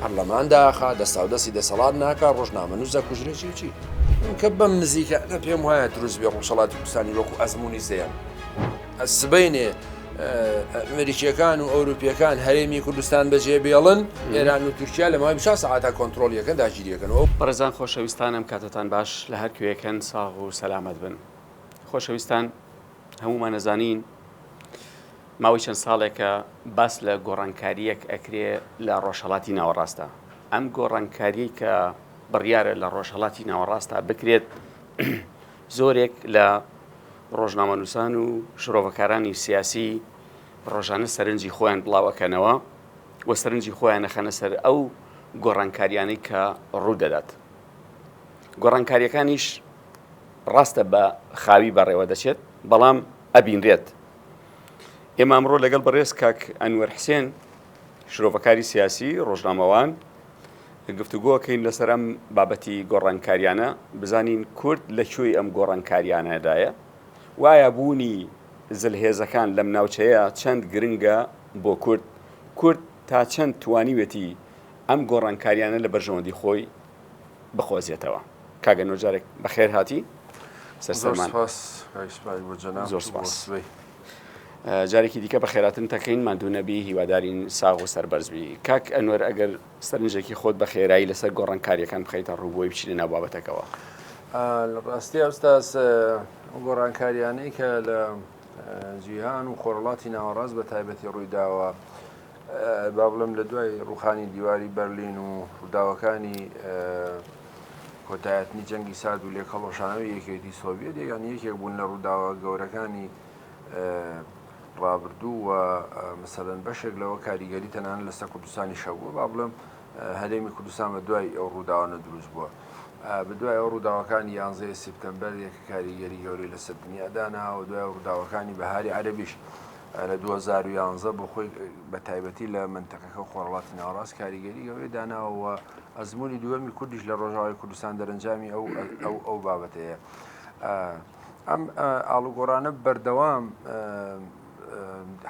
پەرلەمان داخا دەستاودەستی دەسەڵات ناکا ڕۆژنامە نووس دەکوژرێ چی چی کە بەم نزیکە لە پێم وایە دروست بێ ڕوسەڵاتی کوردستانی وەکو ئەزمموی زەیان سبینێ ئەمریکیەکان و ئەوروپیەکان هەرێمی کوردستان بەجێ بێڵن ئێران و تورکیا لە مای بشا سەعاتا کۆنتترۆلیەکە داگیریەکەنەوە بەڕێزان خۆشەویستانم کاتتان باش لە هەرکوێکەن ساغ و سەلامەت بن خۆشەویستان هەموومان ئەزانین ماوەی چەند ساڵێکە باس لە گۆڕانکاریەک ئەکرێ لە ڕۆژهڵاتی ناوەڕاستە ئەم گۆڕانکاری کە بڕیارە لە ڕۆژهڵاتی ناوەڕاستە بکرێت زۆرێک لە ڕۆژنامەنووسان و شرۆڤەکارانی سیاسی ڕۆژانە سەرنجی خۆیان بڵاوەکەنەوە و سەرنجی خۆیان نەخەنە سەر ئەو گۆڕانکاریانەی کە ڕوو دەدات گۆڕانکاریەکانیش ڕاستە بە خاوی بەڕێوە دەچێت بەڵام ئەبینرێت ئێمە ئەمڕۆ لەگەڵ بەڕێز کاک ئەنوەر حسێن شرۆڤەکاری سیاسی ڕۆژنامەوان گفتوگۆکەین لەسەر ئەم بابەتی گۆڕانکاریانە بزانین کورد لە کوێی ئەم گۆڕانکاریانەدایە وایە بوونی زلهێزەکان لەم ناوچەیە چەند گرنگە بۆ کورد کورد تا چەند توانیوێتی ئەم گۆڕانکاریانە لە بەرژەوەندی خۆی بقۆزێتەوە. کاک ئەنوەر جارێک بەخێر هاتی سەرسەرمان. زۆر سپاس کاک سپای بۆ جەنابت زۆر و بۆ سپاس. سبەی. جارێکی دیکە بەخێراتن تەکەین ماندوو نەبی هیوادارین ساغ و سەربەرز بی. کاک ئەنوەر ئەگەر سەرنجێکی خۆت بە خێرایی لەسەر گۆڕانکارییەکان بخەیتە ڕوو بۆی بچینە ناو بابەتەکەوە. ئا لە ڕاستیا ئوستاز ئە ئەو گۆڕانکاریانەی کە لە ئە جیهان و خۆرهەڵاتی ناوەڕاست بە تایبەتی ڕووی داوە با بڵێم لە دوای ڕووخانی دیواری بەرلین و ڕووداوەکانی کۆتایهتنی جەنگی سارد و لێکهڵوەشانەوەی یەکێتی سۆڤیەت یەکان یەکێک بوون لە ڕووداوە گەورەکانی ڕابردوو و مثلەن بەشێک لەوە کاریگەری تەنان لەسەر کوردستانی شەبووە با بڵێم هەرێمی کوردستان بە دوای ئەو ڕووداوانە دروست بووە بە دوای ئەو ڕووداوەکانی یانزەیە سپتمبەر یەکە کاریگەری گەورەی لەسەر دنیادانا و دوای ڕووداوەکانی بەهاری عەربیش لە دوو هەزار و یانزە بۆ خۆی بە تایبەتی لە منتەقەکە و خۆرڵاتی ناوەڕاست کاریگەری گەورەی داناوە ئەزمموی دووەمی کوردیش لە ڕۆژاوای کوردستان دەرەنجامی ئەو ئەو ئەو بابەتەیە ئەم ئاڵوگۆڕانە بەردەوام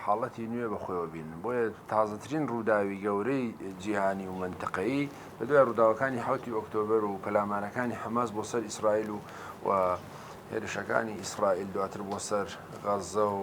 حاڵەتی نوێ بەخۆیەوە بین بۆیە تازەترین ڕووداوی گەورەی جیهانی و منتەقەی بە دوای ڕووداوەکانی حوتی ئۆکتۆبر و پەلامانەکانی حەماس بۆ سەر ئیسرائیل و و هێرشەکانی ئیسرائیل دواتر بۆ سەر غەزە و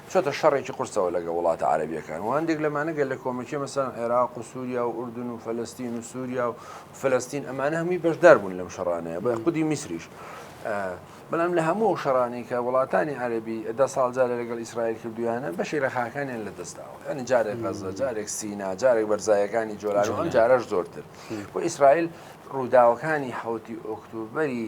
چۆتە شەڕێکی قورسەوە لەگەڵ وڵاتە عەرەبیەکان و هەندێک لەمانە گەلە کۆمەکیە مەسەلەن عێراق و سوریا و ئوردن و فەلەستین و سوریا و فلستین ئەمانە هەمووی بەشدار بوون لەم شەڕانەیە بە خودی میسریش بەڵام لە هەموو ئەو شەڕانی کە وڵاتانی عەربی دە ساڵ جارە لەگەڵ ئیسرائیل کردویانە بەشی لە خاکانیان لە دەستداوە ینی جارێک غەزە جارێک سینا جارێک بەرزایەکانی جۆلان و ئەم جارەش زۆرتر بۆ ئیسرائیل ڕووداوەکانی حوتی ئۆکتوبری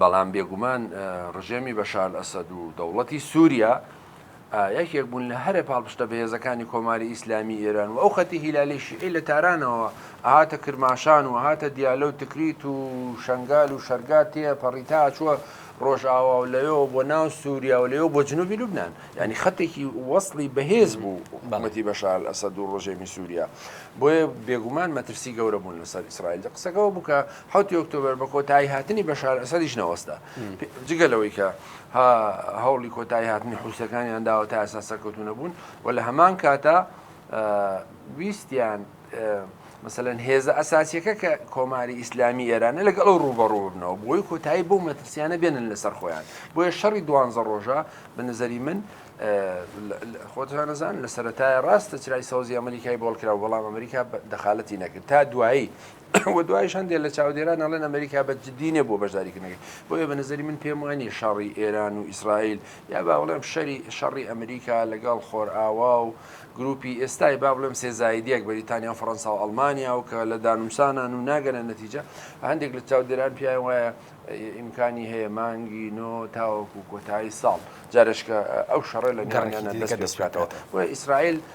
بەڵام بێگومان ڕژێمی بەشار ئەسەد و دەوڵەتی سووریا یەکێک بوون لە هەرە پاڵپشتە بەهێزەکانی کۆماری ئیسلامی ئێران و ئەو خەتی هیلالی شیعی لە تارانەوە ئاهاتە کرماشان و هاتە دیالە و تکریت و شنگال و شەرگا تێ پەڕیتا چووە ڕۆژئاوا و لەوێەوە بۆ ناو سووریا و لەوێ بۆ جنوبی لوبناان ینی خەتێکی وەصلی بەهێز بوو بەمەتی بەشال ئەسە دوو ڕژێمی سووریا بۆیە بێگومان مەترسی گەورە بوون لەسەر ئیسرائیل قسەکەەوە بکە حەوتی ئۆکتۆبەر بە کۆتایی هاتنی بەشار ئەسەدیش نەوەستا جگە لەوەی کە هەوڵی کۆتایی هاتنی حوسەکانیان داوە تا ئەسا سەرکەوتو نەبوون و لە هەمان کاتە ویستیان مثلەن هێزە ئەساسیەکە کە کۆماری ئیسلامی ئێرانە لەگەڵ ئەو ڕوبەڕوو بنەوە بۆی کۆتایی بۆ مەترسیانە بێنن لەسەر خۆیان بۆیە شەڕی دوانزە ڕۆژە بە نظری من خۆتانەزان لە سەتای ڕاستە چرای سەوزی ئەمریکای بۆڵکرا بەڵام ئەمریکا دەخالەتی نەکرد تا دوایی و دوایش هەندێک لە چاودێران ئەڵێن ئەمەریکا بە جدی نیە بۆ بەشداریکردنەکەی بۆیە بە نەزەری من پێم وانیە شەڕی ئێران و ئیسرائیل یا با بڵێم شەری شەڕی ئەمریکا لەگەڵ خۆرئاوا و گروپی ئێستای با بڵێم سێ زایدیەک بەریتانیا و فەڕەنسا و ئەڵمانیا و کە لە دانوسانان و ناگەنە نەتیجە هەندێک لە چاودێران پیان وایە ئیمکانی هەیە مانگی نۆ تاوەکو کۆتایی ساڵ جارشکە ئەو شەڕە لە گەڕەکە دەستکاتەوە و ئیسرائیل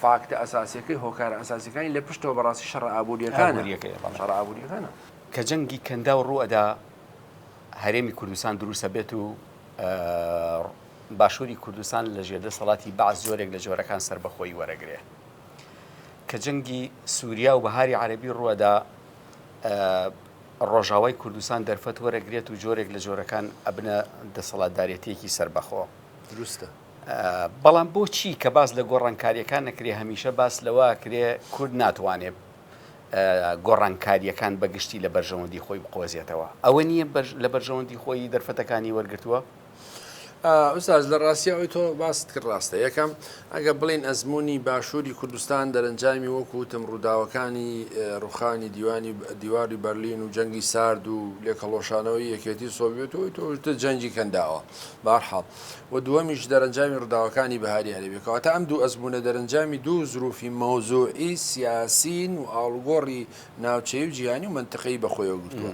فاکتە ئەساسیەکەی، هۆکارە ئەساسیەکانی لە پشتەوە بەڕاستی شەڕە ئابووریەکانە. کە جەنگی کەنداو ڕوو ئەدا هەرێمی کوردستان دروست ئەبێت و باشووری کوردستان لە ژێر دەسەڵاتی بەعس جۆرێک لە جۆرەکان سەربەخۆیی وەرەگرێ. کە جەنگی سووریا و بەهاری عەرەبی ڕوو ئەدا ڕۆژاوای کوردستان دەرفەت وەرەگرێت و جۆرێک لە جۆرەکان ئەبنە دەسەڵاتدارێتیەکی سەربەخۆ. دروستە. بەڵام بۆچی کە باس لە گۆڕانکاریەکان نەکرێ هەمیشە باس لەوە کرێ کورد ناتوانێ گۆڕانکاریەکان بەگشتی لە بەرژەوەندی خۆی بقۆزیێتەوە ئەوە نییە لە بەرژەوەندی خۆی دەرفەتەکانی وەرگتووە ئوساز لە ڕاستی ئەوی تۆ باست کرد ڕاستە یەکەم ئەگە بڵین ئەزمموی باشووری کوردستان دەرەنجامی وەکوتم ڕووداوەکانی ڕوخانی دیوانی دیواری بەرلین و جەنگی سارد و لێکەڵۆشانەوەی یەکێتی سۆڤێت و تۆشتە جەنگی کەنداوە بارحاڵ و دووەمیش دەرەنجامی ڕووداوەکانی بەهاری عەرەبیە، کەواتە ئەم دوو ئەزموونە دەرەنجامی دوو زروفی مەوزوعی سیاسین و ئاڵوگۆڕی ناوچەیی و جیهانی و مەنتقەیی بەخۆیەوە گرتووە.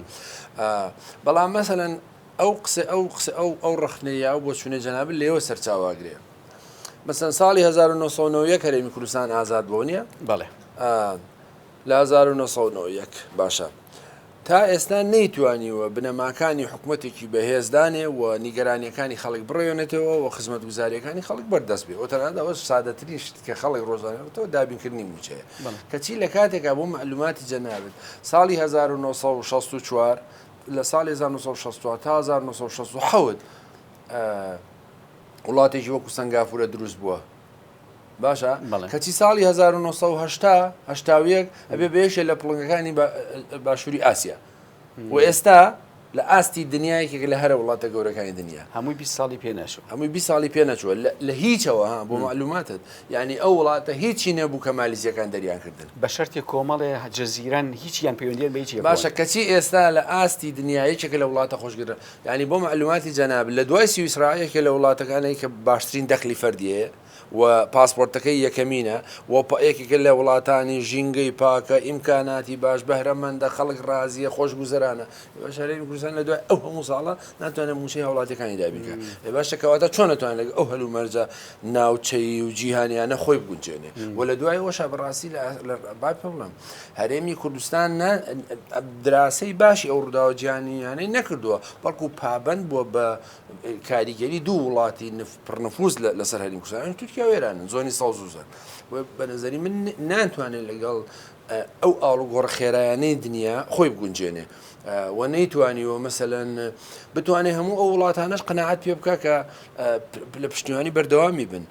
بەڵام مەسەلەن ئەو قسە ئەو قسە ئەو ئەو ڕەخنەی یا ئەو بۆچوونەی جەنابت لێوە سەرچاوە ئەگرێ. مەسەن ساڵی 1991 هەرێمی کوردستان ئازاد بووە نییە؟ بەڵێ. لە 1991 باشە. تا ئێستا نەیتوانیوە بنەماکانی حکومەتێکی بەهێز دانێ و نیگەرانییەکانی خەڵک بڕێونێتەوە و خزمەتگوزارییەکانی خەڵک بەردەست بێ و تەنانەت ئەوە سادەترین شت کە خەڵک ڕۆژانە بێتەوە دابینکردنی مووچەیە کەچی لە کاتێکا بۆ مەعلوماتی جەنابت ساڵی 1964 لە ساڵی 1964 تا 1967 وڵاتێکی وەکو سەنگافورە دروست بووە. باشە کەچی ساڵی هەزار و نۆ سەد و هەشتا هەشتا و یەک ئەبێ بە یەکێ لە پڵنگەکانی باشووری ئاسیا و ئێستا لە ئاستی دنیایەکێک لە هەرە وڵاتە گەورەکانی دنیا هەمووی 20 ساڵی پێنەچوو هەمووی 20 ساڵی پێنەچووە لە هیچەوە ها بۆ معلوماتت یعنی ئەو وڵاتە هیچی نەبوو کە مالیزیەکان دەریان کردن بە شەرتی کۆمەڵێ جززیران هیچیان پەیوەندیان بەیچی باشە کەچی ئێستا لە ئاستی دنیا یەکێک لە وڵاتە خۆشگرە یانی بۆ مەعلوماتی جەنابت لە دوای سویسڕا یەکێ لە وڵاتەکانەی کە باشترین دەخلی فەردی هەیە و پاسپۆرتەکەی یەکەمینە و یەکێکە لە وڵاتانی ژینگەی پاکە ئیمکاناتی باش بەهرەمەندە خەڵک ڕازیە خۆش گوزەرانە ئێوەش هەرێمی کوردستان لە دوای ئەو هەموو ساڵە ناتوانێت موچەی هاوڵاتیەکانی دابینکە ئێ باشە کەواتە چۆن نەتوان لەگە ئەو هەلومەرجە ناوچەیی و جیهانیانە خۆی بگونجێنێ و لە دوای ئەوەشە بەڕاستی لە بای پێ بڵێم هەرێمی کوردستان نە دراسەی باشی ئەو ڕووداوە جیهانیانەی نەکردووە، بەڵکو پابەند بووە بە کاریگەری دوو وڵاتی پڕنفوز لەسەر هەرێمی کوردستان، ئەویش تورکیا و ئێرانن، زۆنی سەوز و زەرد. بە نەزەری من ناتوانێت لەگەڵ ئەو ئاڵوگۆڕە خێرایانەی دنیا خۆی بگونجێنێ و نەیتوانیوە مەسەلەن بتوانێت هەموو ئەو وڵاتانەش قەناعەت پێ بکا کە لە پشتیوانی بەردەوامی بن.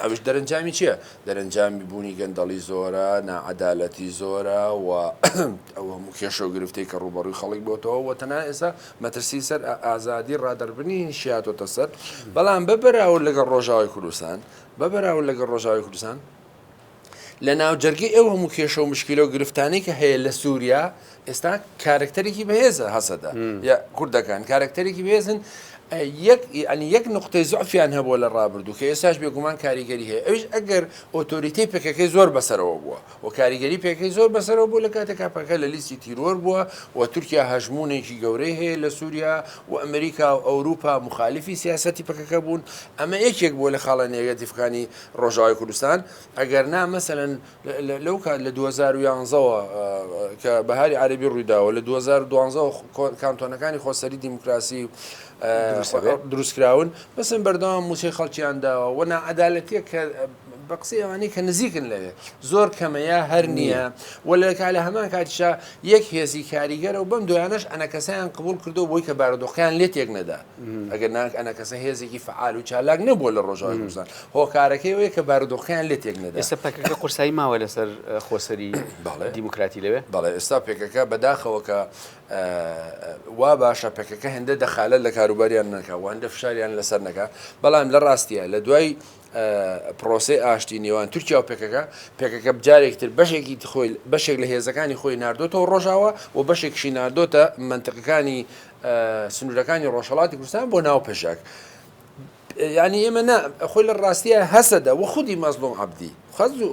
ئەویش دەرەنجامی چیە؟ دەرەنجامی بوونی گەندەڵی زۆرە، ناعەدالەتی زۆرە و ئەو هەموو کێشە و گرفتەی کە ڕووبەڕووی خەڵک بۆتەوە و تەنها ئێستا مەترسی سەر ئازادی ڕادەربڕینیش هاتۆتە سەر، بەڵام بە بەراورد لەگەڵ ڕۆژاوای کوردستان، بە بەراورد لەگەڵ ڕۆژاوای کوردستان، لە ناوجەرگەی ئەو هەموو کێشە و مشکلە و گرفتانی کە هەیە لە سووریا ئێستا کارکتەرێکی بەهێزە هەسەدە یا کوردەکان کارکتەرێکی بێزن یەک ینی یەک نقطەی زعفیان هەبووە لە ڕابردوو کە ئێستاش بێگومان کاریگەری هەیە ئەوش ئەگەر ئۆتۆریتی پێکەکەی زۆر بەسەرەوە بووە و کاریگەری پێکەکەی زۆر بەسەرەوە بوو لە کاتێکا پەکە لە لیستی تیرۆر بووە و تورکیا هەژمونێکی گەورەی هەیە لە سووریا و ئەمریکا و ئەوروپا مخالفی سیاستی پەکەکە بوون ئەمە یەکێک بووە لە خاڵە نێگەتیفەکانی ڕۆژاوای کوردستان ئەگەر نا مەسەلەن لەو کات لە 2011ەوە کە بەهاری عربی ڕوویداوە لە 2012 کانتۆنەکانی خۆسەری دیموکراسی دروستکراون بەسم بەردەوام موچەی خەڵکیان داوە و ناعادالەتە کە بە قسەی ئەوانەی کە نزیکن لەوێ زۆر کەمەیە هەر نییە و لەکە لە هەمان کاتیشا یەک هێزی کاریگەرە و بەم دویانەش ئەنە کەسیان قبول کردو بۆی کە بارودۆخیان لێ تێک نەدا ئەگەر نا ئەنەکەسە هێزێکی فعال و چالاک نەبووە لە ڕۆژاوی کوردستان هۆکارەکەی ئەوەیە کە بارودۆخیان لێ تێک نەدا ئێستا پەکەکە قورسایی ماوە لەسەر خۆسەری بەڵێ دیموکراتی لەوێ بەڵێ ئێستا پێکەکە بەداخەوە کە وا باشە پەکەکە هێندە دەخالە لە کاروباریان نەکا و هەندە فشاریان لەسەر نەکا بەڵام لە ڕاستیە لە دوای پرۆسەی ئاشتی نێوان تورکیا و پێکەکە پێکەکە بجارێکی تر بەشێکی خۆی بەشێک لە هێزەکانی خۆی ناردۆتەوە ڕۆژاوە و بەشێکشی ناردۆتە منتقەکانی سنوورەکانی ڕۆژهڵاتی کوردستان بۆ ناو پێشاک ینی ئێمە نا خۆی لە ڕاستیە هەسەدە و خودی مەزلوم عبدی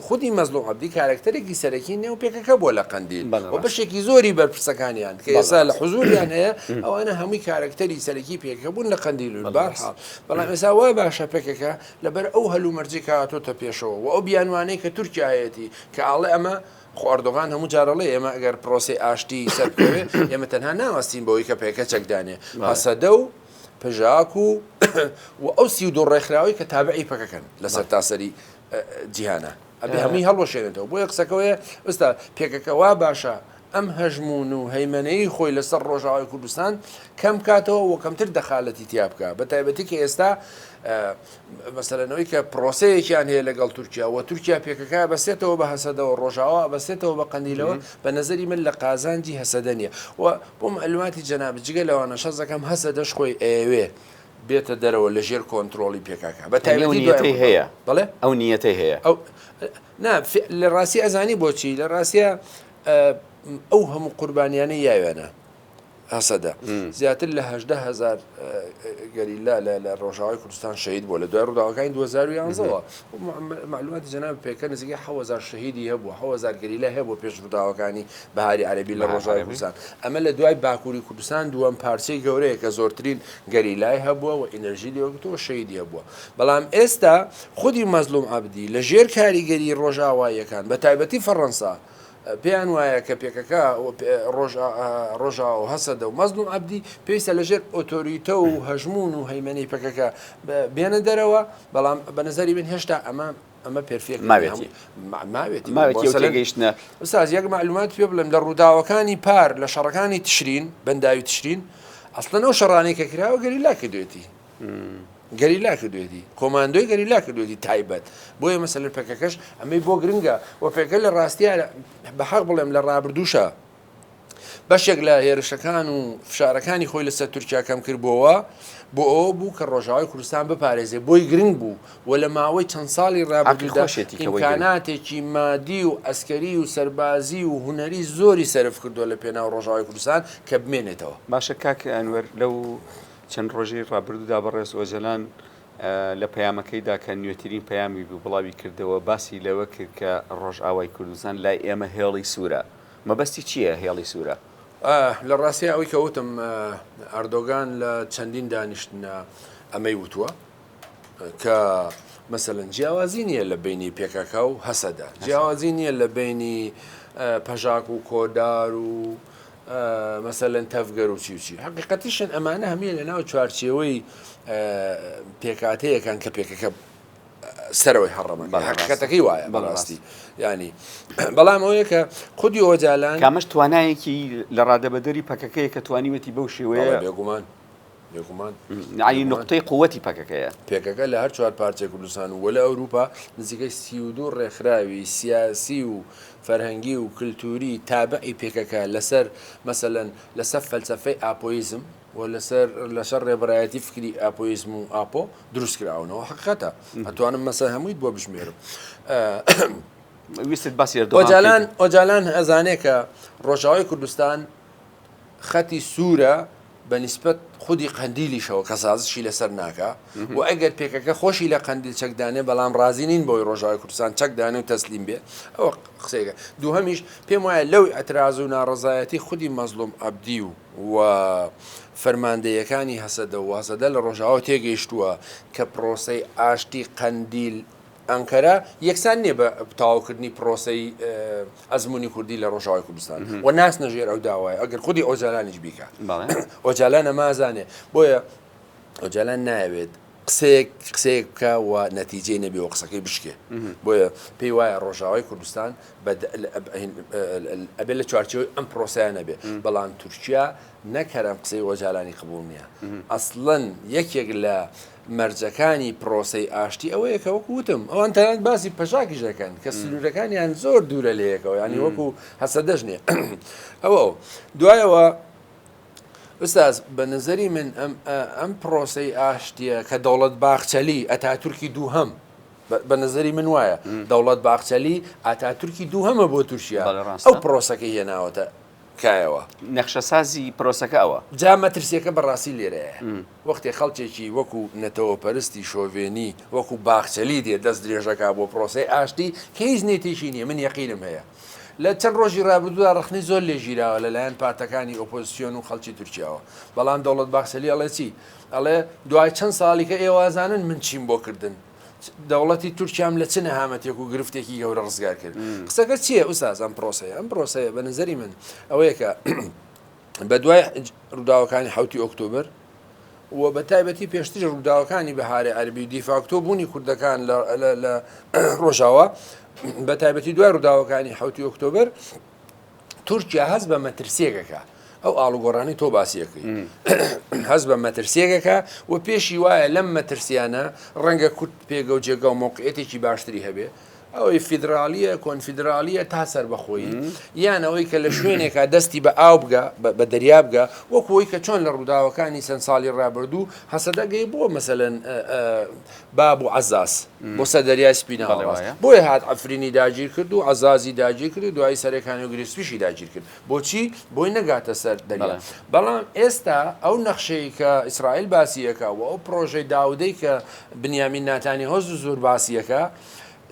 خودی مەزلوم عبدی کارکتەرێکی سەرەکی نێو پێکەکە بۆ لە قندی و بەشێکی زۆری بەرپرسەکانیان کە ئێسا لە حزوریان هەیە ئەوانە هەمووی کارکتەری سەرەکی پێکەکە بوون لە قندی لول بارحاڵ بەڵام ئێستا وا باشە پەکەکە لەبەر ئەو هەلومەرجەی کە هاتۆتە پێشەوە و ئەو بیانوانەی کە تورکیا هەیەتی کە ئاڵێ ئەمە خۆ ئەردۆغان هەموو جار ئەڵێ ئێمە ئەگەر پرۆسەی ئاشتی سەر بکەوێ ئێمە تەنها ناوەستین بەوەی کە پەکەکە چەک دانێ هەسەدە و پژاک و و ئەو سی و دوو ڕێکخراوەی کە تابعی پەکەکەن لە سەرتاسەری جیهانە ئەبێ هەمووی هەڵوەشێنێتەوە بۆیە قسەکە وەیە ئێستا پێکەکە وا باشە ئەم هەژموون و هەیمەنەیی خۆی لەسەر ڕۆژاوای کوردستان کەم بکاتەوە و کەمتر دەخالەتی تیا بکا بە تایبەتی کە ئێستا مەسەلەن ئەوەی کە پرۆسەیەکیان هەیە لەگەڵ تورکیا و تورکیا پێکەکە بەسێتەوە بە هەسەدەوە ڕۆژاوا بەسێتەوە بە قەندیلەوە بە نظری من لە قازانجی هەسەدە نیە و بۆ معلوماتی جەناب جگە لەوانە شەزەکەم هەسە دەش خۆی ئەوێ بێتە دەرەوە لە ژێر کۆنتترۆڵی پێکاکە بە تایبەتی هەیە بڵێ ئەو نیەتی هەیە ئەو نا لە ڕاستی ئەزانی بۆچی لە ڕاستە ئەو هەموو قوربانیانەی یاوێنە هەسەدە زیاتر لە هەدە هزار گەریلا لە ڕۆژاوای کوردستان شەید بووە لە دوای ڕووداوەکانی 2011ەوە معلوماتی جەناب پێکە نزیکە حوەزار شەهیدی هەبوو حوەزار گەریلا هەیە بۆ پێش ڕووداوەکانی بەهاری عەربی لە ڕۆژاوای کوردستان ئەمە لە دوای باکووری کوردستان دووەم پارچەی گەورەیە کە زۆرترین گەریلای هەبووە و ئینەرژی لێوەگرتەوە شەیدی هەبووە بەڵام ئێستا خودی مەزلوم عەبدی لە ژێر کاریگەری ڕۆژئاواییەکان بە تایبەتی فەڕەنسا پێیان وایە کە پێکەکە ڕۆژئاوا و هەسەدە و مەزلوم عەبدی پێویستە لە ژێر ئۆتۆریتە و هەژموون و هەیمەنەی پەکەکە بێنە دەرەوە بەڵام بە نەزەری من هێشتا ئەمە ئەمە پێرفێک ماوێتی ماوێتی ماوێتی تێگەیشتنە ئوستاز یەک معلومات پێ بڵێم لە ڕووداوەکانی پار لە شەڕەکانی تشرین بەنداوی تشرین ئەسڵەن ئەو شەڕانەی کە کراوە گەریلا کردوێتی گەریلا کردوێتی کۆماندۆی گەریلا کردوێتی تایبەت بۆیە مەسەن پەکەکەش ئەمەی بۆ گرنگە و پێکە لە ڕاستیە بە حەق بڵێم لە ڕابردوشە بەشێک لە هێرشەکان و فشارەکانی خۆی لەسەر تورکیا کەم کردبووەوە بۆ ئەوە بوو کە ڕۆژاوای کوردستان بپارێزێ بۆی گرنگ بوو و لە ماوەی چەند ساڵی ڕابردوشێتی کەواناتێکی مادی و ئەسکەری و سەربازی و هوەری زۆری سرف کردو لە پێناو ڕۆژاوای کوردستان کە بمێنێتەوە باشە کاکە ئەنوەر لەو چەند ڕۆژی ڕابردوودا بەڕێز ئۆجەلان لە پەیامەکەیدا کە نوێترین پەیامی بوو بڵاوی کردەوە، باسی لەوە کرد کە ڕۆژئاوای کوردستان لای ئێمە هێڵی سوورە. مەبەستی چییە هێڵی سوورە؟ لە ڕاستییا ئەوەی کە وتم، ئەردۆگان لە چەندین دانیشتندا ئەمەی وتووە. کە مەسەلەن جیاوازی نییە لە بینی پێکەکە و هەسەدە جیاوازی نییە لە بینی پەژاک و کۆدار و مەسەلەن تەفگەر و چیوچی حقیقەتیشن ئەمانە هەمیە لە ناو چوارچێوەی پێکاتەیەکان کە پێکەکە سەرەوەی هەڕەمە حقیقەتەکەی وایە بەڕاستی ینی بەڵام ئەوەیە کە خودی ئۆجالان کامەش توانایەکی لە ڕادەبەدەری پەکەکەیە کە توانیوەتی بەو شێوەیە بێگومان یەعنی نوقتەی قووتی پەکەکەیە. پەکەکە لە هەر چوار پارچەی کوردستان و لە ئەوروپا نزیکەی سی و دوو ڕێکخراوی سیاسی و فەرهەنگی و کلتووری تابعی پەکەکە لەسەر مەسەلەن لەسەر فەلسەفەی ئاپۆیزم و لەسەر لەسەر ڕێبەرایەتی فکری ئاپۆیزم و ئاپۆ دروست کراونەوە حەقیقەتە ئەتوانم مەسەر هەموویت بۆ بژمێرم. ویستت باسی ئەردۆغان بکەیت؟ ئۆجالان ئەزانێ کە ڕۆژاوای کوردستان خەتی سوورە بە نیسبەت خودی قەندیلیشەوە کە سازشی لەسەر ناکا و ئەگەر پێکەکە خۆشی لە قەندیل چەکدانێ بەڵام ڕازی نین بۆی ڕۆژاوی کوردستان چەکدانێ و تەسلیم بێ ئەوە قسەیەکە دووهەمیش پێم وایە لەو ئەتراز و ناڕزایەتی خودی مەزلوم عبدی و و فەرماندەیەکانی هەسەدە و هەسەدە لە ڕۆژاوە تێگەیشتووە کە پرۆسەی ئاشتی قەندیل ئەنقەرە یەکسان نیە بە تەواوکردنی پرۆسەی ئەزمونی کوردی لە ڕۆژاوای کوردستان و ناس نەژێر ئەو داوایە ئەگەر خودی ئۆجالانیش بیکە ئۆجالانە مازانێ بۆیە ئۆجالان ناوێت قسەیەک قسەیەک بکە و نەتیجەی نەبێ و قسەکەی بشکێ بۆیە پێی وایە ڕۆژاوای کوردستان ئەبێ لە چوارچەوەی ئەم پرۆسیان نەبێ بەڵام تورکیا نەکەرم قسەی ئۆجالانی قبول نییە ئەسڵەن یەکێک لە مەرجەکانی پرۆسەی ئاشتی ئەوەیە کە وەکو وتم ئەوان تەنانەت باسی پەژاکیش دەکەن کە سنوورەکانیان زۆر دوورە لە یەکەوە یانی وەکو هەسەدەش نییە ئەوە و دوایەوە ئوستاز بە نظری من ئەم پرۆسەی ئاشتیە کە دەوڵەت باخچەلی ئەتاتورکی دووهەم بە نظری من وایە دەوڵەت باخچەلی ئاتاتورکی دووهەمە بۆ تورکیا ئەو پرۆسەکە هێناوەتە کایەوە. نەخشەسازی پرۆسەکە ئەوە. جا مەترسیەکە بەڕاستی لێرەیە. وەختێ خەڵکێکی وەکو نەتەوەپەرستی شۆڤێنی وەکو باخچەلی دێ دەست درێژەکا بۆ پرۆسەی ئاشتی کە هیچ نیتێکی نیە من یەقینم هەیە لە چەند ڕۆژی ڕابردودا ڕەخنەی زۆر لێ ژیراوە لە لایەن پارتەکانی ئۆپۆزسیۆن و خەڵکی تورکیاوە بەڵام دەوڵەت باخچەلی ئەڵێ چی ئەڵێ دوای چەند ساڵی کە ئێوازانن من چیم بۆ کردن دەوڵەتی تورکیام لە چ نەهامەتێک و گرفتێکی گەورە ڕزگار کرد قسەکە چییە ئوستاز ئەم پرۆسەیە ئەم پرۆسەیە بە نظری من ئەوەیە کە بە دوای ڕووداوەکانی حوتی ئۆکتۆبر و بە تایبەتی پێشتری ڕووداوەکانی بەهارە عەربی دیفاکتۆ بوونی کوردەکان لە ڕۆژاوە بە تایبەتی دوای ڕووداوەکانی حوتی ئۆکتۆبر تورکیا هەست بە مەترسیەکەکە ئەو ئاڵوگۆڕانی تۆ باسیەکەی هەست بە مەترسیەکەکە و پێشی وایە لەم مەترسیانە ڕەنگە کورت پێگە و جێگا و مۆقعێتێکی باشتری هەبێ ئەوەی فیدراالیە کۆنفیدراالیە تا سەر بەخۆی یان ئەوەی کە لە شوێنێکا دەستی بە ئاو بگە بە دەریا بگە وەکوی کە چۆن لە ڕووداوەکانی چەند ساڵی ڕابردوو هەسەدەگەی بۆ مەسەن باب و عەزاز بۆ سەر دەریای سپی ناوەڕاست، بۆیە هات عەفرینی داگیر کرد و عەزازی داگیر کرد و دوایی سەرێ کانی و گرێ سپیشی داگیر کرد بۆچی؟ بۆی نەگاتە سەر دەریا بەڵام ئێستا ئەو نەخشەی کە ئیسرائیل باسی ئەکا و ئەو پڕۆژەی داودەی کە بنیامین ناتانیهۆ زوو زور باسی ئەکا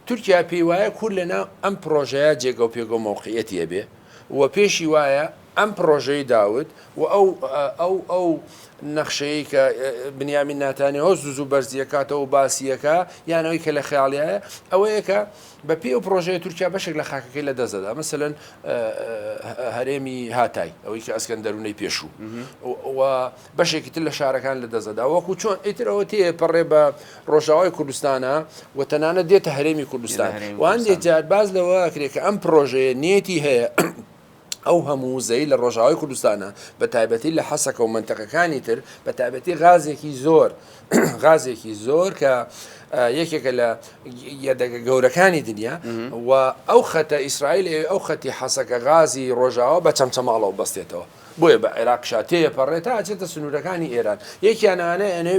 تورکیا پێی وایە کورد لە ناو ئەم پڕۆژەیە جێگە و پێگە و مەوقعیەتی ئەبێ و پێشی وایە ئەم پڕۆژەی داود و ئەو ئەو ئەو نەخشەیەی کە بنیامین ناتانیاهۆ زوو زوو بەرزی ئەکاتەوە و باسی ئەکا یان ئەوەی کە لە خەیاڵیایە ئەوەیە کە بە پێی ئەو پڕۆژەیە تورکیا بەشێک لە خاکەکەی لە دەست دەدا مەسەلەن هەرێمی هاتای ئەوەی کە ئەسکەندەرونەی پێشوو و بەشێکی تر لە شارەکان لە دەست دەدا وەکو چۆن ئیتر ئەوە تێ پەڕێ بە ڕۆژاوای کوردستانە و تەنانەت دێتە هەرێمی کوردستان و هەندێک جار باس لەوە ئەکرێ کە ئەم پڕۆژەیە نیەتی هەیە ئەو هەموو وزەی لە ڕۆژاوای کوردستانە بە تایبەتی لە حەسەکە و منتەقەکانی تر بە تایبەتی غازێکی زۆر غازێکی زۆر کە یەکێکە لە یەدەگە گەورەکانی دنیا و ئەو خەتە ئیسرائیل ئەو خەتی حەسەکە غازی ڕۆژاوا بە چەمچەماڵەوە بەستێتەوە بۆیە بە عێراق شاتەیە پەڕێت تا ئەچێتە سنوورەکانی ئێران یەکیانانە ئەنێ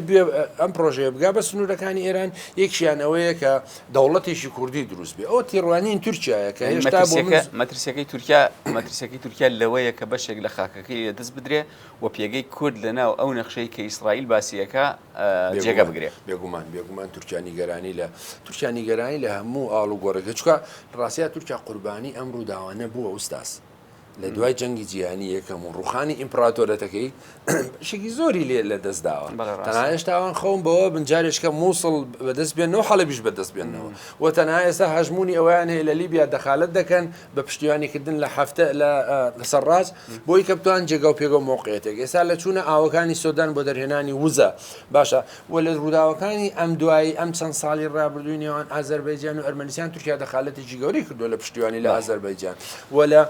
ئەم پرۆژەیە بگا بە سنوورەکانی ئێران یەکیانەوەیە کە دەوڵەتێکی کوردی دروست بێ ئەوە تێڕوانین تورکیایە کە هێشتا بۆ من مەترسیەکەی تورکیا مەترسیەکەی تورکیا لەوەیە کە بەشێک لە خاکەکەی لە دەست بدرێ و پێگەی کورد لە ناو ئەو نەخشەی کە ئیسرائیل باسیەکە جێگە بگرێ بێگومان بێگومان تورکیا نیگەرانی لە تورکیا نیگەرانی لە هەموو ئاڵ و گۆڕێکە چکە ڕاستە تورکیا قوربانی ئەم ڕووداوانە بووە ئوستاس لە دوای جەنگی جیهانی یەکەم و ڕوخانی ئیمپراتۆرەتەکەی شێکی زۆری لێ لە دەست داوە تەنها هێشتاوان خەوم بەوە بنجارێکە مووسڵ بەدەست بێن و حەڵبیش بەدەست بێنەوە و تەنها ئێستا هەژمونی ئەویان هەیە لە لیبیا دەخالت دەکەن بە پشتیوانیکردن لە هەفتە لە لەسەر ڕاست بۆی کەپتوان جێگا و پێگە و مۆقعێتێک ئێستا لە چوونە ئاوەکانی سۆدان بۆ دەرهێنانی وزە باشە و لە ڕووداوەکانی ئەم دوایی ئەم چەند ساڵی ڕابردووی نێوان ئازەربەیجان و ئەرمەنستان تورکیا دەخالەتێکی گەورەی کردووە لە پشتیوانی لە ئازەربەیجان و لە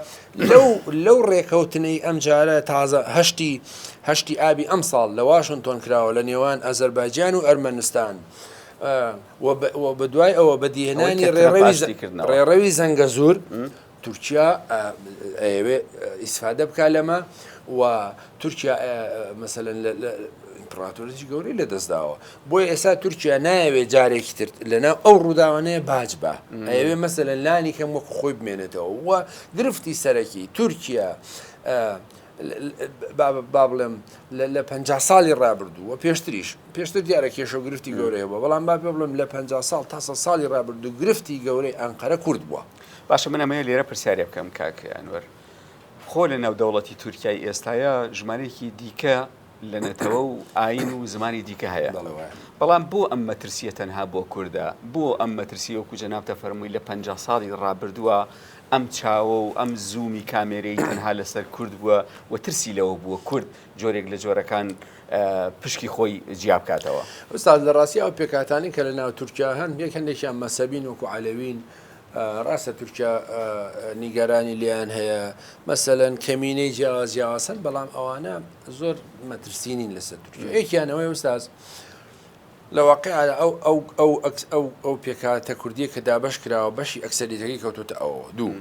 لەو لەو ڕێکەوتنەی ئەمجارە تازە هەشتی هەشتی ئابی ئەمساڵ لە واشنتۆن کراوە لە نێوان ئازەربایجان و ئەرمەنستان و بەدوای ئەوە بەدیهێنانی ڕێڕەوی ڕێڕەوی زەنگەزور تورکیا ئەیەوێ ئیسفادە بکا لەمە و تورکیا مەسەلەن ئیمپڕاتۆریی گەورەی لەدەستداوە بۆی ئێستا تورکیا نایەوێ جارێکی تر لەناو ئەو ڕووداوانەیە باج بە ئەوێ مەسەلەن لانی کەم وەکو خۆی بمێنێتەوە و گرفتی سەرەکی تورکیا با بڵێم لە پ ساڵی ڕابردوو و پێشتریش پێشتر دیارە کێشە گرفتی گەورەیە بە بەڵام با پێ بڵم لە پ ساڵ تاسە ساڵی ڕابردوو گرفتی گەورەی ئەنقەرە کورد بووە باشە من ئەمەیە لێرە پرسیارێ بکەم کاک ئەنوەر خۆ لە ناودەوڵەتی تورکای ئێستاە ژمارێکی دیکە لە نەتەوە و ئاین و زمانی دیکە هەیە بەڵام بۆ ئەم مەترسیە تەنها بۆ کووردە بۆ ئەم مەترسی وەکو جەنابتە فەرمووی لە پ ساڵی ڕابردووە ئەم چاوە و ئەم زوومی کامێرەی تەنها لەسەر کورد بووە و ترسی لەوە بووە کورد جۆرێک لە جۆرەکان پشکی خۆی جیا بکاتەوە ئوستاد لە ڕاستی ئەو پێکاتانی کە لە ناو تورکیا هەن یەک هەندێکیان مەسەبین وەکو عەلەوین ڕاستە تورکیا نیگەرانی لێیان هەیە، مەسەلەن کەمینەی جیاواز جیاواز هەن، بەڵام ئەوانە زۆر مەترسی نین لەسەر تورکیا. یەکیان ئەوەیە ئوستاز لە واقیعدا ئەو ئەو ئەو ئەو ئەو پێکهاتە کوردییە کە دابەش کراوە بەشی ئەکسەریەتەکەی کەوتوتە ئەوەوە دوو.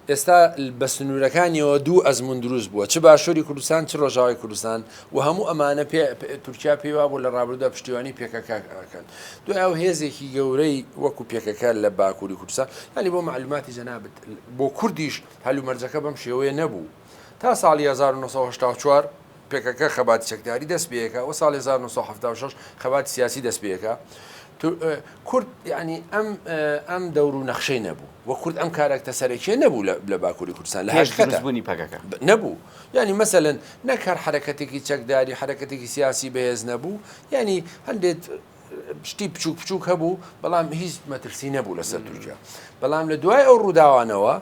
ئێستا بە سنوورەکانیەوە دوو ئەزموون دروست بووە، چ باشووری کوردستان، چ ڕۆژاوای کوردستان و هەموو ئەمانە تورکیا پێی وابوو لە ڕابردوودا پشتیوانی پێکەکە ئەکەن، دوای ئەو هێزێکی گەورەی وەکو پێکەکە لە باکووری کوردستان، یانی بۆ مەعلووماتی جەنابت، بۆ کوردیش هەلومەرجەکە بەم شێوەیە نەبوو تا ساڵی هەزار و نۆ سەد و هەشتا و چوار، پەکەکە خەباتی چەکداری دەست پێیەکا و ساڵی هەزار و نۆ سەد و حەفتا و شەش خەباتی سیاسی دەست پێیەکا. کورد یانی ئەم ئەم دەور و نەخشەی نەبوو و کورد ئەم کاراکتە سەرەکیە نەبوو لە باکووری کوردستان لە هەشت کەس بوونی پەکەکە نەبوو یانی مەسەلەن نەک هەر حرەکەتێکی چەکداری حرەکەتێکی سیاسی بەهێز نەبوو یانی هەندێت شتی بچوک بچوک هەبوو بەڵام هیچ مەترسی نەبوو لەسەر تورکیا بەڵام لە دوای ئەو ڕووداوانەوە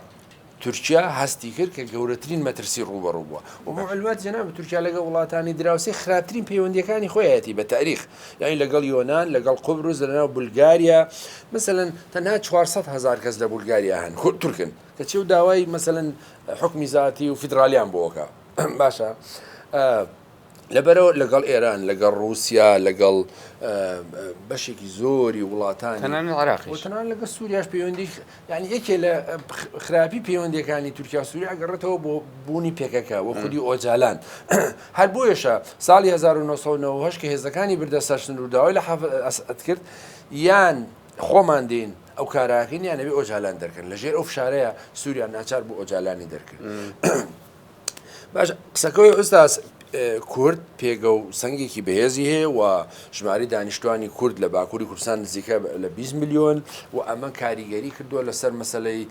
تورکیا هەستی کرد کە گەورەترین مەترسی ڕووبەڕوو بووە و بۆ معلومات جەنابت تورکیا لەگە وڵاتانی دراوسی خراپترین پەیوەندیەکانی خۆیەتی بە تاریخ یعنی لەگەڵ یۆناان لەگەڵ قوبرز لەناو بولگاریا مثلا تەنها 400 هزار کەس لە بولگاریا هەن خود تورکن کە چێ و داوای مثلا حکمی زیاتی و فیدراالیان بۆکە باشە لەبەرئەوە لەگەڵ ئێران، لەگەڵ ڕووسیا، لەگەڵ بەشێکی زۆری وڵاتانی تەنانەت عێراقیش و تەنانەت لەگەڵ سووریاش پەیوەندی یانی یەکێ لە خراپی پەیوەندیەکانی تورکیا و سووریا ئەگەڕێتەوە بۆ بوونی پێکەکە و خودی ئۆجالان هەر بۆیەشە ساڵی 1990 کە هێزەکانی بردە سەر سنوور و داوای لە حافز ئەسعەد کرد یان خۆمان دێین ئەو کارە ئەکەین یان ئەبێ ئۆجالان دەرکەن لەژێر ئەو فشارەیە سووریا ناچار بوو ئۆجالانی دەرکرد. باش قسەکەی ئوستاز کورد پێگە و سنگێکی بەهێزی هەیە و ژماری دانیشتوانی کورد لە باکووری کوردستان نزیکە لە 20 میلیۆن و ئەمە کاریگەری کردووە لەسەر مەسلەی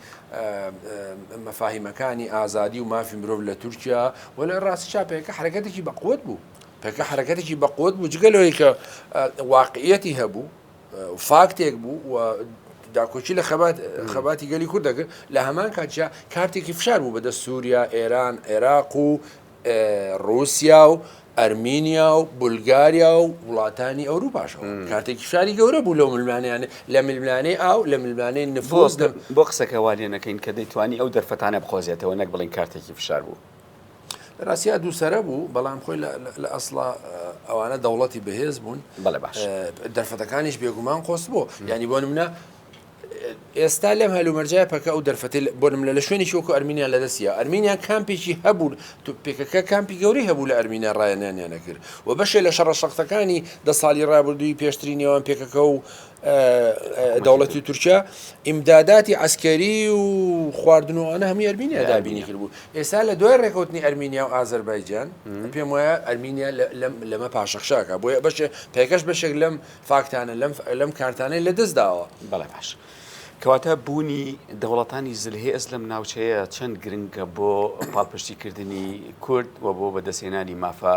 مەفاهیمەکانی ئازادی و مافی مرۆڤ لە تورکیا و لە ڕاستی چاپەکە حرەکەتێکی بەقوت بوو پێکە حرەکەتێکی بەقوت بوو جگە لەوەی کە واقعەتی هەبوو فاکتێک بوو و داکۆکی لە خەبات خەباتی گەلی کورد دەکرد لە هەمان کاتیا کارتێکی فشار بوو بەدە سووریا ئێران عێراق و رووسیا و ئەرمینیا و بولگاریا و وڵاتانی ئەوروپاشەوە کاتێک فشاری گەورە بوو لەو ملمانیانە لە ملمانەی ئاو لە ملمانەی نفۆز بۆ قسەکەوانێ نەکەین کە دەیتوانی ئەو دەرفەتانە بقۆزێتەوە نەک بڵین کارتێکی فشار بوو لە ڕاستیا دوو سرە بوو بەڵام خۆی لە ئەسڵا ئەوانە دەوڵەتی بەهێز بوون بەڵێ باش دەرفەتەکانیش بێگومان قۆست بوو ینی بۆ منە ئێستا لەم هەلومەرجای پەکە ئەو دەرفەتی بۆ منە لە شوێنی شوکو ئەرمینیان لە دەستە ئەرمینیان کامپێکی هەبوو تو پێکەکە کامپی گەوری هەبوو لە ئەرمینا ڕایەنیانیانە کرد و بەشێ لە شەڕە شەختەکانی دە ساڵی ڕابردووی پێشتری نێوان پێکەکە و دەوڵەتی تورکیا ئیمداداتی عسکەری و خواردنەوەوانە هەمی ئەرمینیا دابینی کرد بوو ئێستا لە دوای ڕێکوتنی ئەرمینیا و ئازربایجان پێم وایە ئەرمینیا لەمە پاشەخشاکە بۆیە بەش پێکەش بەشێک لەم فاکتانە لەم لەم کارتانەی لە دەست داوە بەڵێ باش. کەواتە بوونی دەوڵەتانی زلهێ ئەس لەم ناوچەیە چەند گرنگە بۆ پاڵپشتیکردنی کورد و بۆ بەدەستێنانی مافە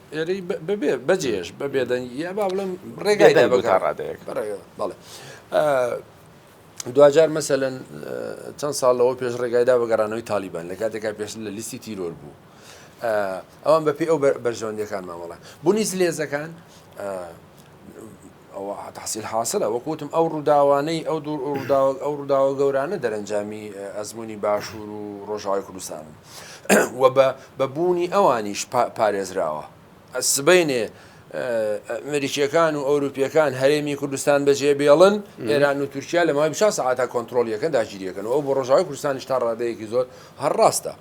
ئێرەی بەبێ بەجێش بە بێدەنگی یا با بڵێم ڕێگای دەنگ تا ڕادەیەک بەڵێ دواجار مەسەەن چەند ساڵ لەەوە پێش ڕێگایدا بەگەڕانەوەی تالیبان لە کاتێکا پێش لە لیستی تیرۆر بوو ئەوان بەپی ئەو بەرژەوەندەکان مامەڵە بوونی زلێزەکان ئەوە تەحسیل حاسلە، وەک وتم ئەو ڕووداوانەی ئەو دوو ڕووداوە ئەو ڕووداوە گەورانە دەرەنجامی ئەزموونی باشوور و ڕۆژاوای کوردستانن و بە بە بوونی ئەوانیش پا پارێزراوە. سبەینێ ئەمریکییەکان و ئەوروپییەکان هەرێمی کوردستان بەجێ بێڵن، ئێران و تورکیا لە ماوەی بیست و چوار سەعاتا کۆنتڕۆڵی ئەکەن، داگیری ئەکەن و ئەو بۆ ڕۆژاوای کوردستانیش تا ڕادەیەکی زۆر هەر ڕاستە.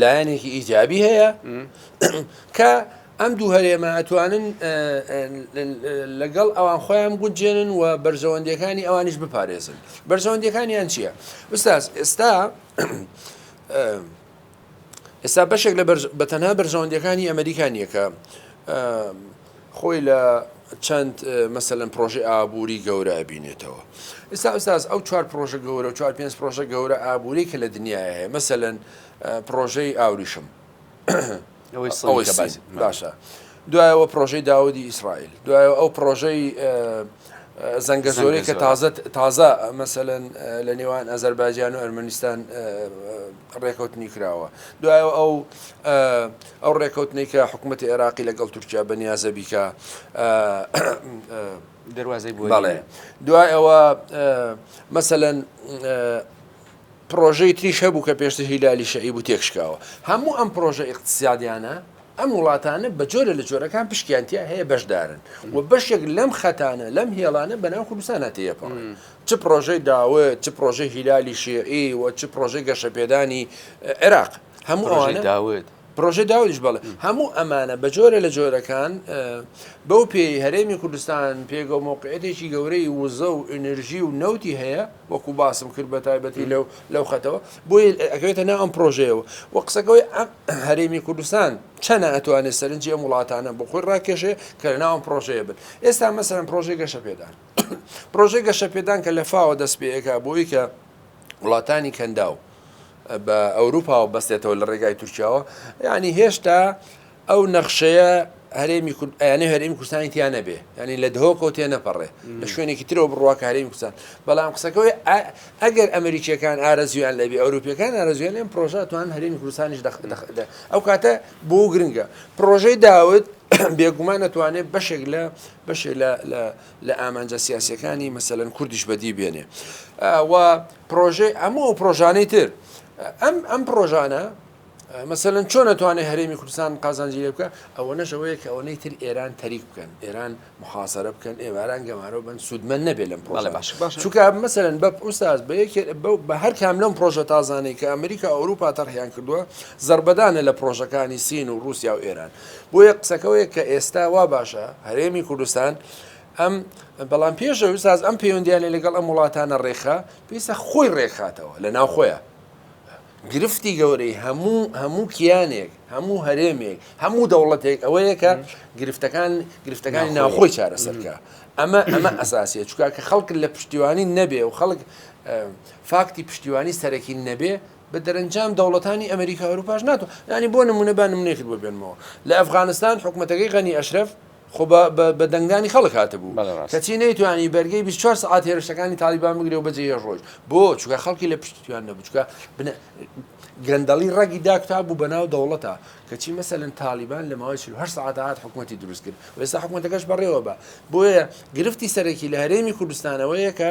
لایەنێکی ئیجابی هەیە کە ئەم دوو هەرێمە ئەتوانن لەگەڵ ئەوان خۆیان گوجێنن و بەرژەوەندەکانی ئەوانیش بپارێزن بەرژەوەندەکانیان چییە؟ بستاز ئێستا ئێستا بەشێک لە بەتەنها بەرژەوەندەکانی ئەمریکا نیەکە خۆی لە چەند مەسەلەن پرۆژەی ئابووری گەورە ئەبینێتەوە ئستا ئوستاز ئەو چوار پرۆژە گەورە و چوار پێنج پرۆژە گەورە ئابووری کە لە دنیاە هەیە مەسەلەن پرۆژەی ئاوریشم باشە دوایەوە پرۆژەی داودی ئیسرائیل دوایە ئەو پرۆژەی زەنگە زۆری کە تازە تازە مەسەن لە نێوان ئەزەرباجیان و ئەرمەنیستان ڕێکەوتنی کراوە دوایەوە ئەو ئەو ڕێکەوتنەی کە حکوومەتی عێراقی لەگەڵ تورکیا بە نیازە بیکە دەواازەی بوو بەڵێ دوای ئەوە مەسەەن پرۆژەی تریش هەبوو کە پێشتر هیلالی شەعی بوو تێکشکاوە هەموو ئەم پرۆژە ئیقتصادیانە ئەم وڵاتانە بە جۆرە لە جۆرەکان پشکیانتیا هەیە بەشدارن و بەشێک لەم خەتانە لەم هێڵانە بەناو کوردستانە تێپەڕن چ پڕۆژەی داوود، چ پڕۆژەی هیلالی شیعی و چ پڕۆژەی گەشەپێدانی عێراق، هەموو ئەوانە، پڕۆژەی داودیش بەڵێ، هەموو ئەمانە بە جۆرە لە جۆرەکان بەو پێی هەرێمی کوردستان پێگە و مۆقعیەتێکی گەورەی وزە و ئینرژی و نەوتی هەیە وەکو باسم کرد بە تایبەتی لەو لەو خەتەوە بۆی ئەکەوێتە ناو ئەم پڕۆژەیەوە و قسەکەوەی هەرێمی کوردستان چەنە ئەتوانێت سەرنجی ئەم وڵاتانە بۆ خۆی ڕاکێشێ کە لە ناوم پڕۆژەیە بن ئێستا مەسەرم پڕۆژەی گەشە پێدان پرۆژەی گەشەپێدان کە لە فاوە دەست پێئەکا بۆ ئەوی کە وڵاتانی کەنداو بە ئەوروپاوە بەستێتەوە لە ڕێگای تورکیاوە ینی هێشتا ئەو نەخشەیە هەرێمی کوردیانە هەرێمی کوردستانی تیا نەبێ ینی لە دهۆکەوت تێ نەپەڕێ لە شوێنێکی ترەوە بڕواکە هەرێمی کوردستان بەڵام قسەکەی ئەگەر ئەمریکیەکان ئارەزویان لەبێ ئەوروپیەکان ئارەزویان لەم پرۆژاتوان هەرێمی کوردستانیش دەخدەخدا ئەو کاتە بۆ گرنگە پرۆژەی داوت بێگومان نەتوانێت بەشێک لە بەشێ لە لە لە ئامانجە سیاسیەکانی مەسەلەن کوردیش بەدی بێنێ و پرۆژەی ئەموو ئەو پرۆژانەی تر ئەم ئەم پرۆژانە مەسەن چۆن نەتوانێت هەرێمی کوردستان قازانجی لێ بکە ئەوە نەشەوەیە کە ئەوەی تر ئێران تەریک بکەن ئێران محاصرە بکەن ئێواران گەمارەوە بن سوودمەند نەبێ لەم پرۆژە باش باش چکە مەسەرن بە پرساز بە یەکێ بە هەر کام لەم پرۆژە تازانەی کە ئەمریکا ئەوروپا تەرحیان کردووە زربەدانە لە پرۆژەکانی سین و رووسیا و ئێران بۆیە قسەکە وەیە کە ئێستا وا باشە هەرێمی کوردستان ئەم بەڵام پێشەوی ساز ئەم پەیوەندیانە لەگەڵ ئەم وڵاتانە ڕێکخا پێسە خۆی ڕێکخاتەوە لە ناو خۆیان گرفتی گەورەی هەموو هەموو کیانێک هەموو هەرێمێک هەموو دەوڵەتێک ئەوەیە کە گرفتەکان گرفتەکانی ناوخۆی چارەسەرکە ئەمە ئەمە ئەساسیە چکا کە خەڵک لە پشتیوانی نەبێ و خەڵک فاکتی پشتیوانی سەرەکی نەبێ بە دەرەنجام دەوڵەتانی ئەمریکا ئەوروپاش ناتوان یانی بۆ نمونە با نمونەیەکت بۆ بێنمەوە لە ئەفغانستان حکومەتەکەی غەنی ئەشرەف خۆ بە بە دەنگدانی خەڵک هاتبوو بەڵێ ڕاست کەچی نەیتوانی بەرگەی 24 سەعات هێرشەکانی تاڵیبان بگرێ و بەجێ هێشت ڕۆیشت بۆ چونکە خەڵکی لە پشتی تویان نەبوو چونکە بنە گەندەڵی ڕەگی داکوتا بوو بە ناو دەوڵەتە کەچی مەسەلەن تاڵیبان لە ماوەی 48 سەعات هات حکومەتی دروست کرد و ئێستا حکومەتەکەش بەڕێوە بە بۆیە گرفتی سەرەکی لە هەرێمی کوردستانەوەیە کە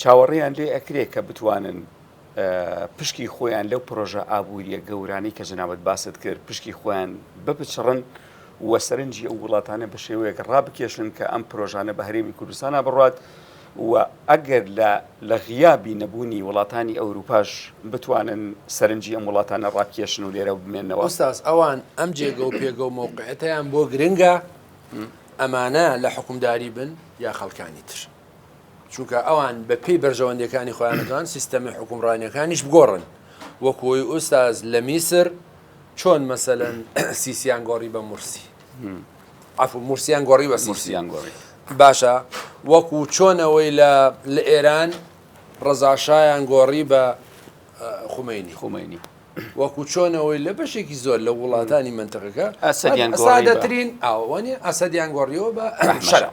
چاوەڕێیان لێ ئەکرێ کە بتوانن پشکی خۆیان لەو پرۆژە ئابووریە گەورانەی کە جەنابەت باست کرد پشکی خۆیان بپچڕن و سەرنجی ئەو وڵاتانە بە شێوەیەک ڕابکێشن کە ئەم پرۆژانە بە هەرێمی کوردستانە بڕات و ئەگەر لە لە غیابی نەبوونی وڵاتانی ئەوروپاش بتوانن سەرنجی ئەم وڵاتانە ڕاکێشن و لێرە بمێنەوە ئوستاز ئەوان ئەم جێگە و پێگە و مەوقعەتیان بۆ گرنگە ئەمانە لە حکومداری بن یا خەڵکانی تر؟ چونکە ئەوان بە پێی بەرژەوەندیەکانی خۆیان دەتوان سیستەمی حکومڕانیەکانیش بگۆڕن وەکوی ئوستاز لە میسر چۆن مەسەەن سیسیان گۆڕی بە مرسی ئەف مرسیان گۆڕی بە سیسیان گۆڕی باشە وەکو چۆنەوەی لە لە ئێران ڕزاشایان گۆڕی بە خومینی خومینی وەکو چۆنەوەی لە بەشێکی زۆر لە وڵاتانی منتەکەکە ئەسەدیان گۆڕی دەترین ئەوانی ئەسەدیان گۆڕیەوە بە شەرع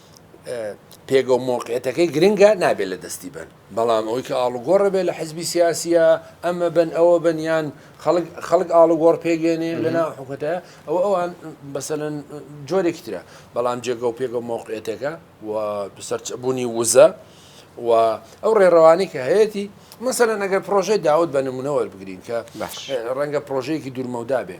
پێگە و مۆقعەتەکەی گرنگە نابێت لە دەستی بەن بەڵام ئەوەی کە ئاڵوگۆڕە بێت لە حزبی سیاسیە ئەمە بن ئەوە بنیان خەڵک ئاڵوگۆڕ پێگەێنێ لەنا حکوتە ئەو ئەوان بەسەرن جۆرێکی ترە بەڵام جێگە و پێگە و مۆقعەتەکە و سەرچبوونی وزە و ئەو ڕێڕەوانی کە هەیەی مەسەرە نەگەر پرۆژەی داوت بە نمونەوە بگرین کە ڕەنگە پرۆژەیەکی دوورمەودا بێ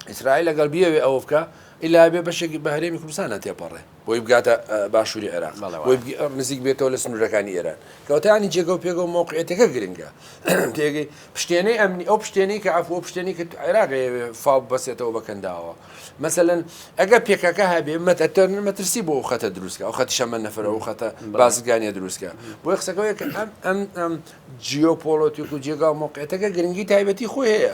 ئیسرائیل ئەگەر بیەوێ ئەوە بکە ئیلا بێ بەشێکی بە هەرێمی کوردستان نەتێپەڕێ بۆی بگاتە باشووری عێراق بۆی نزیک بێتەوە لە سنوورەکانی ئێران کەوتانی جێگە و پێگە و مۆقعێتەکە گرنگە تێگەی پشتێنەی ئەمنی ئەو پشتێنەی کە ئەفۆ پشتێنی کە عێراقێ فاو بەسێتەوە بەکەنداوە مەسەەن ئەگە پێکەکە هەبێ مەتەتەر مەترسی بۆ خەتە دروستکە ئەو خەتی شەمە نەفرە و خەتە بازگانیە دروستکە بۆی قسەکەەوە کە ئەم ئەم ئەم جیۆپۆلۆتیک و جێگا و مۆقعێتەکە گرنگی تایبەتی خۆی هەیە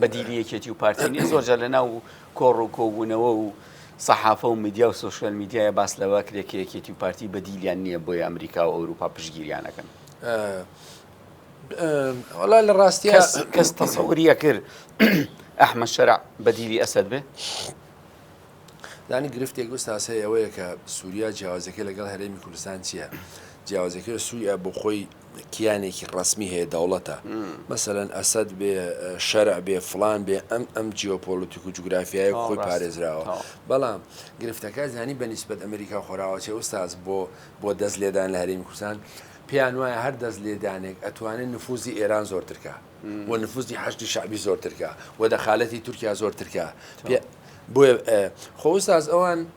بەدیلی یەکێتی و پارتی نیە زۆر جار لەناو و کۆڕ و کۆبوونەوە و سەحافە و میدیا و سوۆشیال میدیایە باس لەوە کرێ کە یەکێتی و پارتی بەدیلیان نییە بۆی ئەمریکا و ئەوروپا پشگیریانەکەن وڵا لە ڕاستی کەس تەسەوریە کرد ئەحمە شەرع بەدیلی ئەسد بێ دانی گرفتێک گوستاس هەیە ئەوەیە کە سووریا جیاوازەکە لەگەڵ هەرێمی کوردستان چییە؟ جیاوازەکە سووریا بۆ خۆی کیانێکی ڕەسمی هەیە دەوڵەتە مەسەلەن ئەسەد بێ شەرع بێ فلان بێ ئەم ئەم جیۆپۆلتیک و جوگرافیایە خۆی پارێزراوە بەڵام گرفتەکە زانی بە نیسبەت ئەمریکا خۆراوەچێ ئوستاز بۆ بۆ دەست لێدان لە هەرێمی کوردستان پێیان وایە هەر دەست لێدانێک ئەتوانێت نفوزی ئێران زۆرترکە و نفوزی حەشتی شعبی زۆرترکە و دەخالەتی تورکیا زۆرترکە بۆیە خۆستاز ئەوان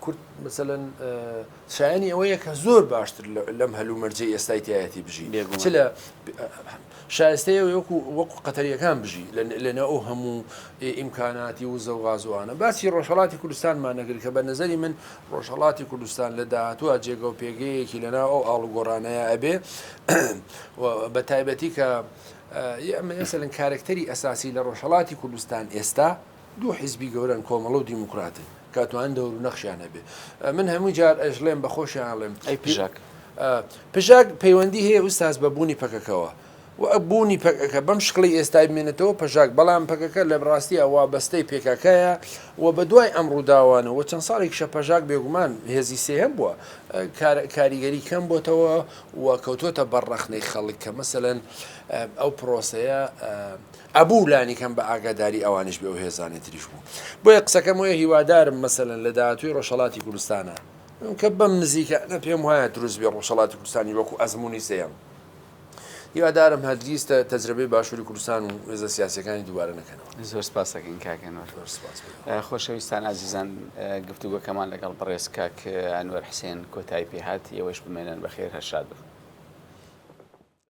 کورد مثلەن شایانی ئەوەیە کە زۆر باشتر لەم هەلومەرجەی ئێستای تایەتی بژی چ لە شایستەیە وەکو وەکو قەتەریەکان بژی لەنە ئەو هەموو ئیمکاناتی و زەوغازوانە باسی ڕۆژهڵاتی کوردستانمان نەگر کە بە نظری من ڕۆژهڵاتی کوردستان لە داهاتوە جێگە و پێگەیەکی لەنا ئەو ئاڵوگۆڕانەیە ئەبێ بە تایبەتی کە ئەمەسەن کارکتەری ئەساسی لە ڕۆژهڵاتی کوردستان ئێستا دوو حیزبی گەورەن کۆمەڵە و دیموکراتن کاتوان دەور و نەخشیان هەبێ من هەموو جار ئەژڵێم بە خۆشیان ئەڵێم ئەی پژاک پژاک پەیوەندی هەیە ئوستاز بە بوونی پەکەکەوە و ئەبوونی پەکەکە بەم شکڵی ئێستای بمێنێتەوە پەژاک بەڵام پەکەکە لە ڕاستیە وا بەستەی پێکاکایە و بە دوای ئەم ڕووداوانە و چەند ساڵێک شە پەژاک بێگومان هێزی سێهەم بووە کاریگەری کەم بۆتەوە و کەوتۆتە بەر ڕەخنەی خەڵک کە مەسەەن ئەو پرۆسەیە ئەبوو لانی کەم بە ئاگاداری ئەوانیش بێ و هێزانی تریش بوو بۆیە قسەکەم وەیە هیوادارم مەسەلەن لە داهاتووی ڕۆژهەڵاتی کوردستانا کە بەم نزیکانە پێم وایە دروست بێ ڕۆژهەڵاتی کوردستانی وەکو ئەزموونی سێیەم هیوادارم هەرگیز تە تەجرەبەی باشووری کوردستان و هێزە سیاسیەکانی دووبارە نەکەنەوە زۆر سپاس دەکەین کاک ئەنوەر زۆر سپاس بۆ خۆشەویستان ئازیزان گفتوگۆکەمان لەگەڵ بەڕێز کاک ئەنوەر حسێن کۆتایی پێهات ئێوەش بمێنن بەخێر هەر شاد بن